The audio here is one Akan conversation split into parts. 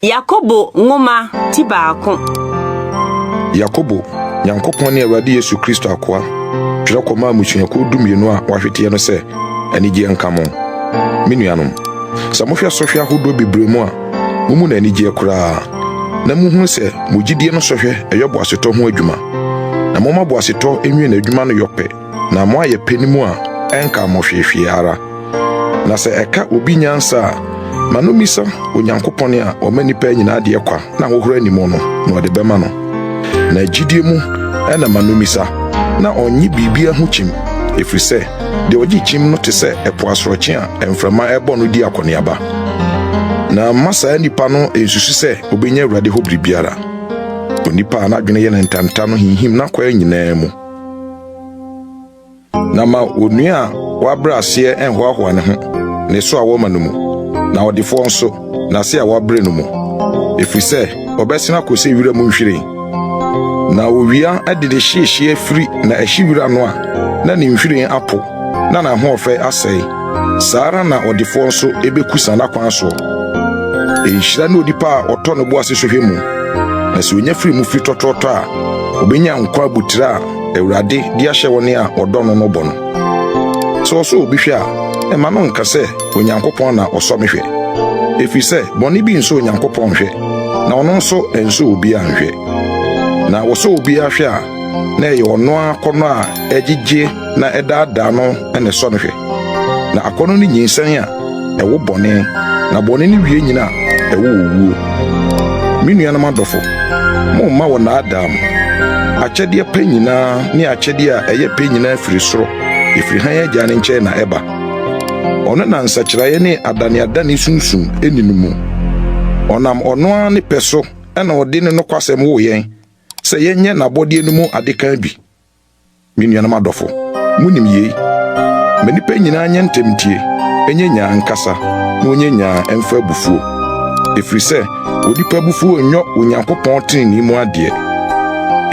Yakobo nwoma ti baako. Yakobo, Nyankopɔn ne Awurade Yesu Kristo akoa, twerɛ kɔmaa mmusuakuo dumienu a wɔahweteɛ no sɛ, Anigyeɛ nka mo. Me nuanom, sɛ mohwɛ sɔhwɛ ahodoɔ bebree mu a, momu no anigyeɛ koraa, na mohunu sɛ mo gyidie no sɔhwɛ yɛ boasetɔ ho adwuma. Na momma boasetɔ nwie n'adwuma no yɔpɛ, na moayɛ pɛ no mu a, ɛnka mo hwehwee ara. Na sɛ ɛka obi nyansa a, ma no mmisa Onyankopɔn a ɔma nnipa nyinaa deɛ kwa na ahohora nni mu no, na ɔde bɛma no. Na gyidie mu na ma no mmisa, na ɔnnye biribiara ho kyim, ɛfiri sɛ deɛ ɔgye kyim no te sɛ ɛpo asorɔkye a mframa rebɔ no di akɔneaba. Na mma saa nipa no nsusu sɛ ɔbɛnya Awurade hɔ biribiara. Onipa a n'adwene yɛ no ntanta no hinhim n'akwaa nyinaa mu. Na ma onua a wabrɛ aseɛ nhoahoa ne ho ne so a wɔma no mu, na ɔdefoɔ nso n'ase a wabrɛ no mu, ɛfiri sɛ ɔbɛsene akɔ sɛ wira mu nhwiren. Na owia de ne hyeehyeɛ firi na ɛhye wira no a, na ne nhwiren apo. na n'ahoɔfɛ asɛe, saa ara na ɔdefoɔ nso bɛkusa n'akwan soɔ. Nhyira ne onipa a ɔtɔ ne bo ase hwehwɛ mu, na sɛ ɔnya firi mu firi tɔtrɔtɔ a, ɔbɛnya nkwa abotire a Awurade de ahyɛ wɔn a wɔdɔ no no bɔ no. Sɛ ɔsɔ obi hwɛ a, mma no nka sɛ, Onyankopɔn na ɔsɔ me hwɛ, ɛfiri sɛ bɔne bi nsɔ Onyankopɔn nhwɛ, na ɔno nso nsɔ obiara nhwɛ. Na wɔsɔ obiara hwɛ a, na ɛyɛ ɔno ara akɔnnɔ a ɛgyegye na ɛdaadaa no na ɛsɔ no hwɛ. Na akɔnnɔ ne nyinsɛn a ɛwo bɔne, na bɔne ne wie nyina a ɛwo owuo. Me nuanom adɔfo, momma wɔnnaadaa mo. Akyɛdeɛ pa nyinaa ne akyɛdeɛ a ɛyɛ pɛ nyinaa firi soro, ɛfiri hann Agya no nkyɛn na ɛba. Ɔno na nsakyeraeɛ ne adaneadane sunsum nni no mu. Ɔnam ɔno ara ne pɛ so na ɔde ne nokwasɛm woo yɛn sɛ yɛnyɛ n'abɔdeɛ no mu adekan bi. Me nuanom adɔfo, munim yei, Ma nnipa nyinaa nyɛ ntɛm ntie, nyɛ nyaa nkasa, na wɔnyɛ nyaa mfa abufuo, ɛfiri sɛ onipa abufuo nyɔ Onyankopɔn tenenee mu adeɛ.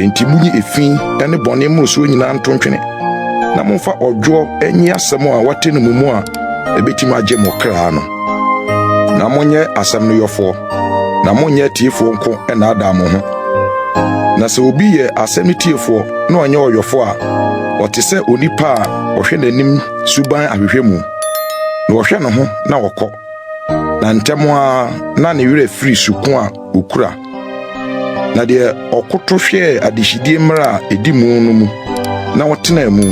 Enti monyi efi ne bɔne mmorosoɔ nyinaa nto ntwene, na momfa ɔdwoɔ nyi asɛm a wɔate no mo mu a ɛbɛtumi agye mo kra no, na monyɛ asɛm no yɔfoɔ. na monyɛ atiefoɔ nko nnaadaa mo ho. Na sɛ obi yɛ asɛm no tiefoɔ na ɔnyɛ ɔyɔfoɔ a, ɔte sɛ onipa a ɔhwɛ n'anim suban ahwehwɛ mu, na ɔhwɛ ne ho na ɔkɔ, na ntɛm ara na ne werɛ firi suko a ɔkura. Na deɛ ɔkoto hwɛɛ adehyidie mmerɛ a ɛdi mu no mu na ɔtenaa mu,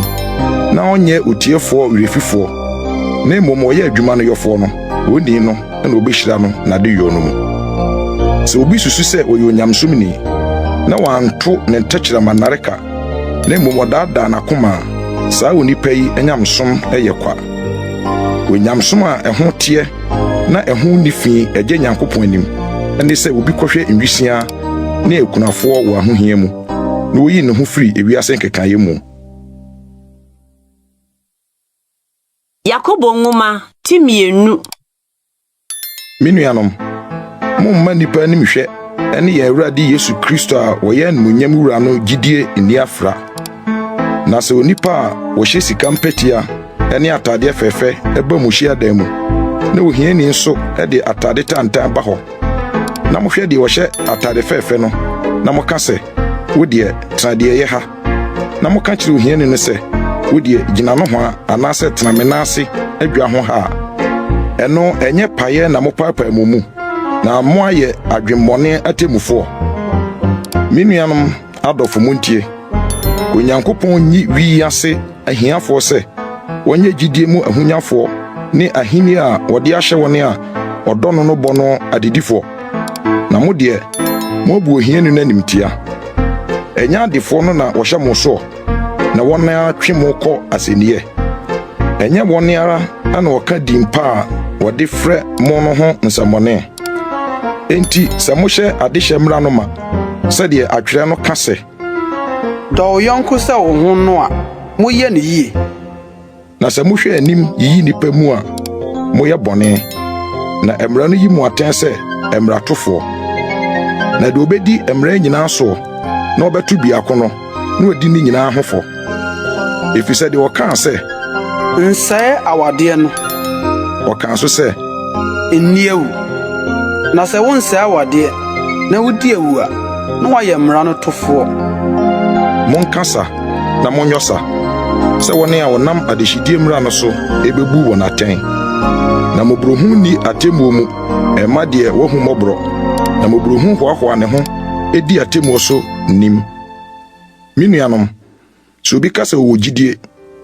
na ɔnyɛ otiefoɔ werɛfifoɔ, na mmom ɔyɛ adwuma no yɔfoɔ no, Onii no na obehyira no n'adeyɔ no mu. Sɛ obi susu sɛ ɔyɛ onyamesom ni na wanto ne ntɛkyerɛma nnareka na mmom ɔdaadaa n'akoma a, saa onipa yi nyamesom yɛ kwa. Onyamesom a ɛho teɛ na ɛho nni fi gye Nyankopɔn anim ne sɛ obi kɔhwɛ nwisiaa ne akunafoɔ wɔ ahohia mu na oyi ne ho firi wiase nkekaeɛ mu. Yakobo Nwoma ti mmienu. Me nuanom, momma nnipa animhwɛ ne yɛn Awurade Yesu Kristo a ɔyɛ animuonyam Wura no gyidie nni afra. Na sɛ onipa a ɔhyɛ sika mpɛtea ne ataadeɛ fɛɛfɛ ba mo hyiadan mu, na ohiani nso de ataade tantan ba hɔ, na mohwɛ deɛ ɔhyɛ ataade fɛɛfɛ no, na moka sɛ, Wo deɛ, tena deɛ ɛyɛ ha, na moka kyerɛ ohiani no sɛ, 'Wo deɛ, gyina nohoa anaasɛ tena me nan ase adwa ho ha' a, ɛno ɛnyɛ payɛ na mopaapae mo mu, na moayɛ adwemmɔne atemmufoɔ. Me nuanom adɔfo, montie. Onyankopɔn nyi wi yi ase ahiafoɔ sɛ wɔnyɛ gyidie mu ahonyafoɔ ne ahennie a wɔde ahyɛ wɔn a wɔdɔ no no bɔ no adedifoɔ. Na mo deɛ, moabu ohiani no animtia. Ɛnyɛ adefoɔ no na wɔhyɛ mo soɔ na wɔn ara twe mo kɔ asɛnniiɛ? Ɛnyɛ wɔn ara na wɔka din pa a wɔde frɛ mo no ho nsɛmmɔne? Enti sɛ mohyɛ adehyeɛ mmara no ma, sɛdeɛ atwerɛ no ka sɛ, Dɔ wo yɔnko sɛ wo ho no a, moyɛ no yie. Na sɛ mohwɛ anim yiyi nnipa mu a, moyɛ bɔne. Na mmara no yi mo atɛn sɛ mmaratofoɔ. Na deɛ ɔbɛdi mmara nyinaa soɔ na ɔbɛto biako no, na wadi ne nyinaa ho fɔ. Efisɛ deɛ ɔkaa sɛ. Nsɛe awadeɛ no. Ɔkaa nso sɛ. Nni awu. Na sɛ wonsɛe awadeɛ na wodi awu a, na woayɛ mmara no tofoɔ. Monka sa na monyɔ sa sɛ wɔne a wɔnam adehyedie mmara no so ɛbɛbu wɔn atɛn. Na mmɔborɔhunu nni atemmuo mu ɛma deɛ wahu mmɔborɔ, na mmɔborɔhunu hoahoa ne ho di atemmuo so nim. Me nuanom, sɛ obi ka sɛ ɔwɔ gyidie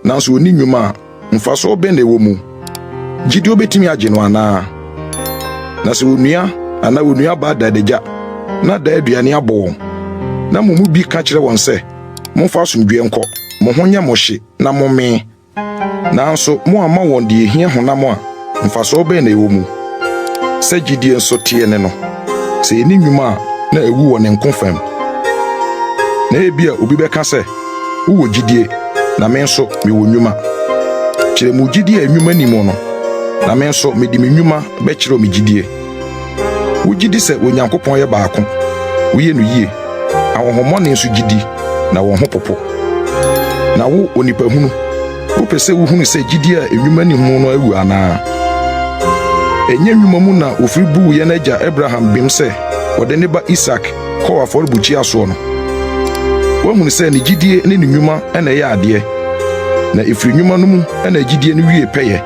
nanso ɔnni nnwuma a, mfasoɔ bɛn na ɛwɔ mu? Gyidie bɛtumi agye no anaa? Na sɛ onua anaa onuabaa da adagya na daa aduane abɔ wɔn, na mo mu bi ka kyerɛ wɔn sɛ, Momfa asomdwoeɛ nkɔ, mo ho nyɛ mo hye na mommee, Nanso moamma wɔn deɛ ɛhia honam a mfasoɔ bɛn na ɛwɔ mu? Sɛ gyidie nso teɛ ne no, sɛ ɛnni nnwuma a, na awu wɔ ne nko fam. Na ebia obi bɛka sɛ, Wowɔ gyidie, na me nso mewɔ nnwuma. Kyerɛ mo gyidie a nnwuma nni mu no, na me nso mede me nnwuma bɛkyerɛw me gyidie. Wogye di sɛ Onyankopɔn yɛ baako, woyɛ no yie, ahonhommɔne nso gye di, na wɔn ho popo. Na wo, onipahunu, wopɛ sɛ wuhunu sɛ gyidi a nnwuma nni ho no awu anaa? Ɛnyɛ nnwuma mu na wofiri buu yɛn agya Abraham bem sɛ ɔde ne ba Isak kɔɔ afɔrebukyia soɔ no? Woahunu sɛ ne gyidie ne ne nnwuma na ɛyɛ adeɛ, na ɛfiri nnwuma no mu na gyidie no wie pɛyɛ.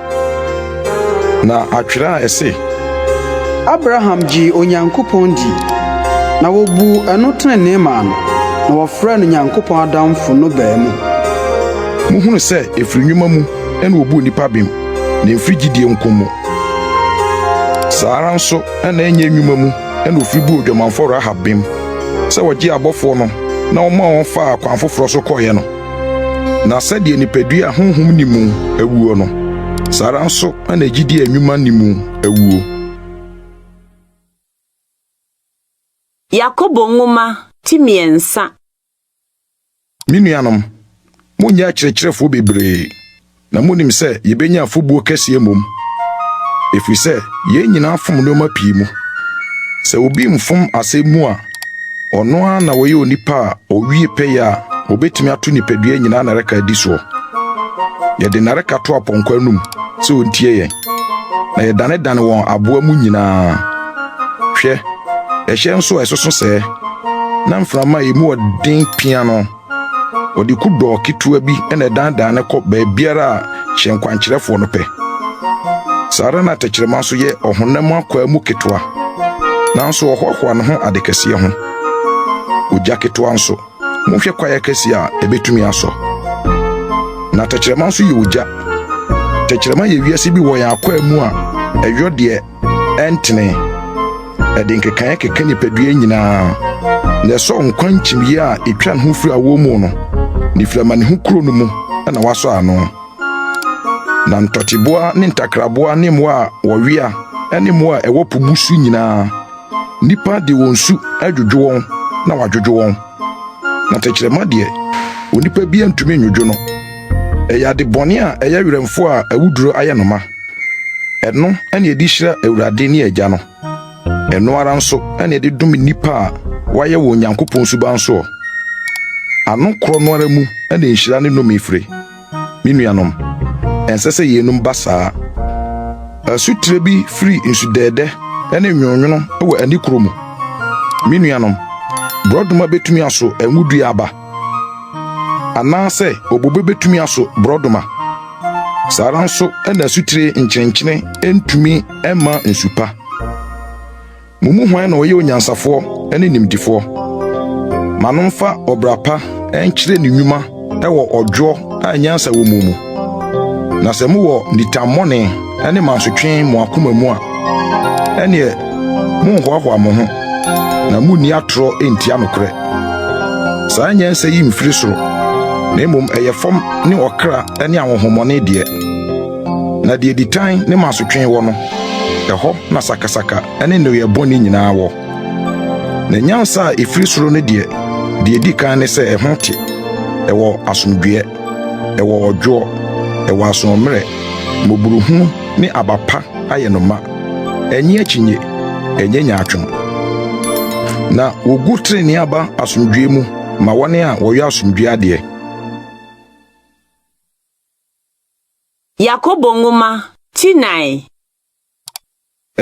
Na atwerɛ a ɛse. Abraham gyee Onyankopɔn dii, na wɔbuu ɛno tenenee maa no, na wɔfrɛɛ no Nyankopɔn adamfo no baa mu. Mohunu sɛ ɛfiri nnwuma mu na wɔbu nnipa bem, na ɛmfiri gyidie nko mu. Saa ara nso na ɛnyɛ nnwuma mu na wɔfiri buu odwamanfoɔ Rahab bem, sɛ ɔgyee abɔfoɔ no na ɔmaa wɔn faa kwan foforɔ so kɔeɛ no. Na sɛdeɛ nipadua a honhom nni mu awuo no, saa ara nso na gyidie a nnwuma nni mu awuo. Yakobo Nwoma ti mmiɛnsa. Me nuanom, monnyɛ akyerɛkyerɛfoɔ bebree, Na munim sɛ yebenya afobuo kɛseɛ mmom, ɛfiri sɛ yɛn nyinaa fom nneɛma pii mu. Sɛ obi mfom asɛm mu a, ɔno ara na ɔyɛ onipa a ɔwie pɛyɛ a ɔbɛtumi ato nipadua nyinaa nnareka adi soɔ. Yɛde nnareka to apɔnkɔ anom sɛ ɔntie yɛn, na yɛdanedane wɔn aboa mu nyinaa. Hwɛ, ɛhyɛn nso a ɛsoso sɛɛ, na mframa a emu yɛ den pia no. Wɔde kudɔɔ ketewa bi na ɛdanedane no kɔ baabiara a hyɛnkwankyerɛfoɔ no pɛ. Saa ara na tɛkyerɛma nso yɛ ɔhonam akwaa mu ketewa, nanso ɔhoahoa ne ho ade kɛseɛ ho. Ogya ketewa nso, monhwɛ kwaeɛ akɛseɛ a ɛbɛtumi asɔ. Na tɛkyerɛma nso yɛ ogya. Tɛkyerɛma yɛ wiase bi wɔ yɛn akwaa mu a ɛyɔ deɛ ɛntene. Ɛde nkekaeɛ keka nipadua nyinaa, na ɛsɔ nkwa nkyimyɛ a ɛtwa ne ho firi awoɔ mu no, ne firi amanehunu kuro no mu na wasɔ ano. Na ntɔteboa ne ntakraboa ne mmoa a wɔwea ne mmoa a ɛwɔ po mu so nyinaa, nnipa de wɔn su adwodwo wɔn na wɔadwodwo wɔn. Na tɛkyerɛma deɛ, onipa bi ntumi nnwodwo no. Ɛyɛ ade bɔne a ɛyɛ werɛmfo a awuduro ayɛ no ma. Ɛno na yɛde hyira Awurade ne Agya no. Ɛno ara nso na yɛde dom nnipa a wɔayɛ wɔ Onyankopɔn suban soɔ. Ano korɔ no ara mu na nhyira ne nnome fire. Me nuanom, ɛnsɛ sɛ yeinom ba saa. Asutire bi firi nsudɛɛdɛ ne nwononwono wɔ ani korɔ mu. Me nuanom, borɔdoma bɛtumi aso ngo dua aba. Anaasɛ obobe betumi aso borɔdɔma? Saa ara nso na asutire nkyenenkyene ntumi mma nsu pa. Mo mu hwan na ɔyɛ onyansafoɔ ne nimdefoɔ? Ma no mfa ɔbra pa nkyerɛ ne nnwuma wɔ ɔdwoɔ a nyansa wɔ mu mu. Na sɛ mowɔ nitammɔne ne mansotwe mo akoma mu a, ɛneɛ monhoahoa mo ho na munni atorɔ ntia nokorɛ. Saa nyansa yi mfiri soro, na mmom ɛyɛ fam ne ɔkra ne ahonhommɔne deɛ. Na deɛ ditan ne mansotwe wɔ no, ɛhɔ na sakasaka ne nneyɔɛ bɔne nyinaa wɔ. Na nyansa a ɛfiri soro no deɛ, deɛ ɛdi kan ne sɛ ɛho te, ɛwɔ asomdwoeɛ. Ɛwɔ ɔdwoɔ, ɛwɔ asoɔmmerɛ, mmɔborohunu ne aba pa ayɛ no ma. Ɛnnye akyinnye, ɛnyɛ nyaatwom. Na wɔgu trenee aba asomdwoeɛ mu ma wɔn a wɔyɔ asomdwoeɛ adeɛ. Yakobo Nwoma, ti nnan.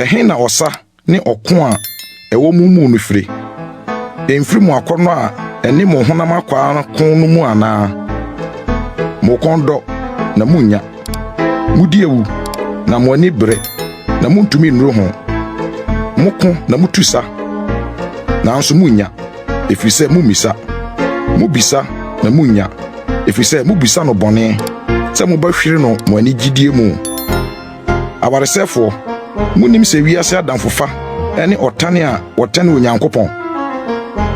Ɛhe na ɔsa ne ɔko a ɛwɔ mo mu no firi? Emfiri mo akɔnnɔ a ɛne mo honam akwaa no ko no mu anaa? Mo kɔn dɔ, na munnya. Mudi awu, na mo ani bere, na muntumi nnuru ho. Moko, na mutu sa, nanso munnya, ɛfiri sɛ mummisa. Mubisa, na munnya, ɛfiri sɛ mubisa no bɔne, sɛ mobɛhwere no mo anigyidie mu. Awaresɛefoɔ, monnim sɛ wiase adamfofa ne ɔtan a wɔtane Onyankopɔn?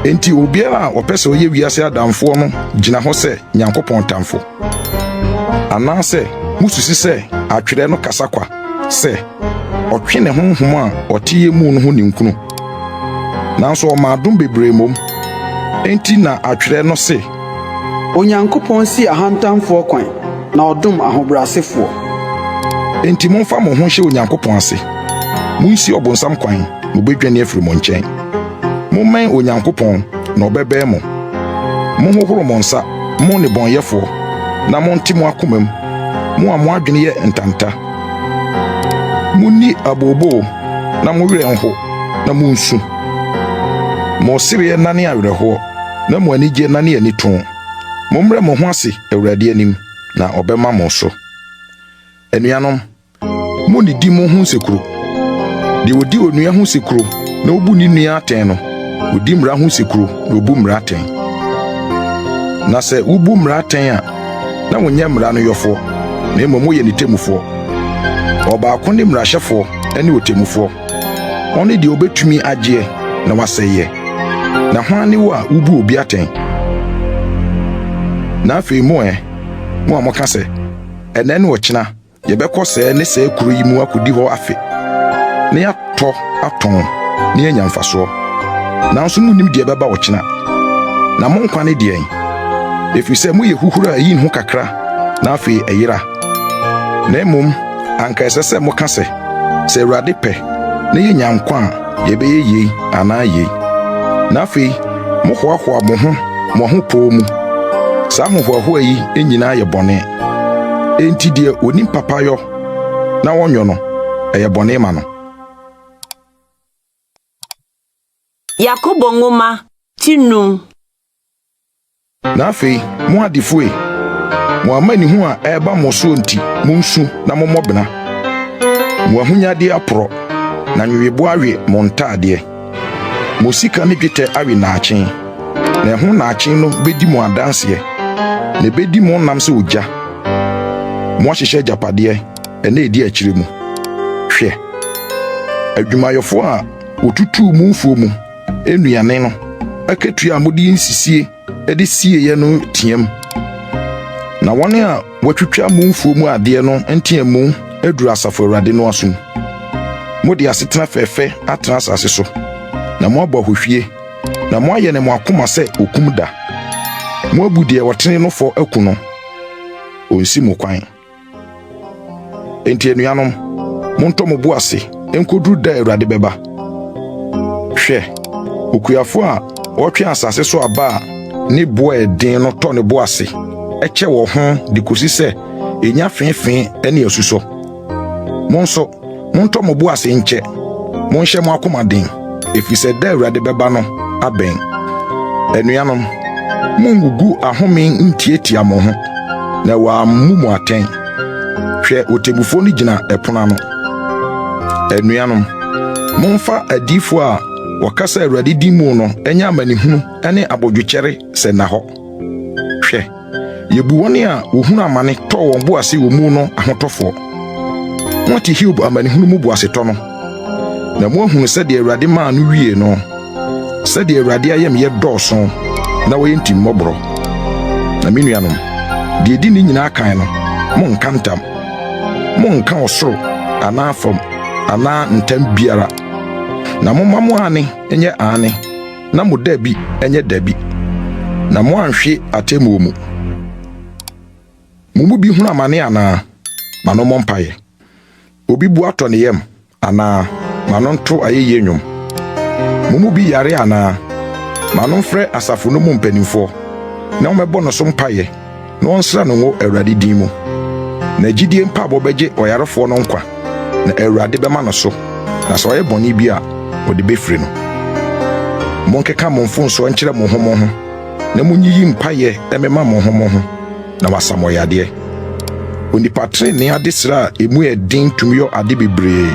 Enti obiara a ɔpɛ sɛ ɔyɛ wiase adamfoɔ no gyina hɔ sɛ Nyankopɔn tamfo. Anaasɛ mosusi sɛ atwerɛ no kasa kwa sɛ, Ɔtwe ne honhom a ɔteɛ mu no ho ninkunu? Nanso ɔma adom bebree mmom. Enti na atwerɛ no se, Onyankopɔn si ahantanfoɔ kwan, na ɔdom ahobrɛasefoɔ. Enti momfa mo ho nhyɛ Onyankopɔn ase. Munsi ɔbonsam kwan, na obedwane afiri mo nkyɛn. Mommɛn Onyankopɔn, na ɔbɛbɛn mo. Monhohoro mo nsa, mo nnebɔneyɛfoɔ, na monte mo akomam, mo a mo adwene yɛ ntanta. Munni abooboo, na mo werɛ nho, na munsu. Mo sereɛ nnane awerɛhoɔ. na mo ani gye na ne ani tõ. Mommrɛ mo ho ase Awurade anim, na ɔbɛma mo so. Anuanom, munnidi mo ho nsekuro. Deɛ ɔdi onua ho sekuro na ɔbu ne nua atɛn no, ɔdi mmara ho sekuro na ɔbu mmara atɛn. Na sɛ wobu mmara atɛn a, na wonyɛ mmara no yɔfoɔ, na mmom woyɛ ne temmufoɔ. Ɔbaako ne mmarahyɛfoɔ ne ɔtemmufoɔ. Ɔne deɛ ɔbɛtumi agyeɛ na wasɛeɛ. Na hwan ne wo a wobu obi atɛn? Na afei mo ɛ, mo a moka sɛ, Ɛnnɛ ne ɔkyena yɛbɛkɔ sɛɛ ne sɛɛ kuro yi mu akɔdi hɔ afe, na yɛatɔ atɔn na yɛanya mfasoɔ, nanso monnim deɛ ɛbɛba ɔkyena. Na mo nkwa ne deɛn? Ɛfiri sɛ moyɛ huhuro a ɛyi ne ho kakra na afei ɛyera. Na mmom anka ɛsɛ sɛ moka sɛ, Sɛ Awurade pɛ, na yenya nkwa a, yɛbɛyɛ yei anaa yei. Na afei mohoahoa mo ho mo ahopoo mu. Saa ahohoahoa yi nyinaa yɛ bɔne. Enti deɛ onim papa yɔ na ɔnyɔ no, ɛyɛ bɔne ma no. Yakobo Nwoma ti num. Na afei, mo adefo e, mo amanehunu a ɛreba mo so nti, munsu na mommɔ bena. Mo ahonyade aporɔ, na nweweboa awe mo ntadeɛ. Mo sika ne dwetɛ awe nnaakye, na ɛho nnaakye no bedi mo adanseɛ, na ebedi mo nam sɛ ogya. Moahyehyɛ agyapadeɛ nna a edi akyire mu. Hwɛ! Adwumayɛfo a wotutuu mo mfuo mu nnuane no akatua a mode nsisie de sieeɛ no team, na wɔn a wɔatwitwa mo mfuo mu adeɛ no nteamu aduru Asafo Awurade no asom. Mode asetena fɛɛfɛ atena asase so, na moabɔ ahohwie, na moayɛ ne mo akoma sɛ okum da. Moabu deɛ ɔtene no fɔ aku no, ɔnsi mo kwan. Enti anuanom, montɔ mo bo ase nkoduru da a Awurade bɛba. Hwɛ, okuafo a ɔtwe asase so aba a ne bo a ɛden no tɔ ne bo ase kyɛ wɔ ho de kosi sɛ enya feefee ne asusɔ. Mo nso, Montɔ mo bo ase nkyɛ, monhyɛ mo akoma den, efisɛ da a Awurade bɛba no abɛn. Anuanom, mungugu ahome ntiatia mo ho, na wɔammu mo atɛn. Hwɛ, ɔtemmufo no gyina ɛpono ano. Anuanom, momfa adiyifo a wɔkasa Awurade din mu no nyɛ amanehunu ne abodwokyɛre sɛ nna hɔ. Hwɛ! Yebu wɔn a wɔhunu amane tɔɔ wɔn bo ase wɔ mu no ahotɔfoɔ. Moate Hiob amanehunu mu boasetɔ no, na moahunu sɛdeɛ Awurade maa no wiee no, sɛdeɛ Awurade ayamyɛ dɔɔso na ɔyɛ ntimmɔborɔ. Na me nuanom, deɛ ɛdi ne nyinaa kan no, monnka ntam. Monnka ɔsoro anaa fam anaa ntam biara, na momma mo aane nyɛ aane. na mo dabi nyɛ dabi, na moanhwe atemmuo mu. Mo mu bi hunu amane anaa? Ma no mmɔ mpaeɛ. Obi bu atɔ ne yam anaa? Ma no nto ayɛyie nnwom. Mo mu bi yare anaa? Ma no mfrɛ asafo no mu mpanimfoɔ, na wɔmmɛbɔ no so mpaeɛ. na ɔnsra no ngo Awurade din mu. Na gyidie mpaabɔ bɛgye ɔyarefoɔ no nkwa, na Awurade bɛma no so, na sɛ ɔyɛ bɔne bi a, ɔde bɛfiri no. Monkeka mo mfomsoɔ nkyerɛ mo ho mo ho, na monyiyi mpaeɛ mmema mo ho mo ho, na wɔasa mo yadeɛ. Onipa trenee adesrɛ a emu yɛ den tumi yɔ ade bebree.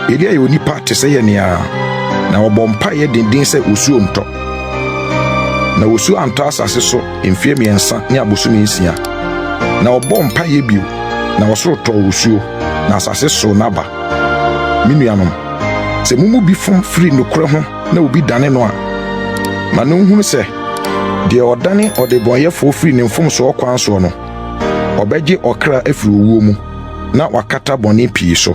Elia yɛ onipa te sɛ yɛn ara, na ɔbɔ mpaeɛ denden sɛ osuo ntɔ. Na osuo antɔ asase so mfeɛ mmiɛnsa ne abosome nsia. Na ɔbɔɔ mpaeɛ bio, na ɔsoro tɔɔ osuo, na asase soo n'aba. Me nuanom, sɛ mo mu bi fom firi nokorɛ ho na obi dane no a, ma no nhunu sɛ, deɛ ɔdane ɔdebɔneyɛfoɔ firi ne mfomsoɔ kwan soɔ no, ɔbɛgye ɔkra afiri owuo mu, na wakata bɔne pii so.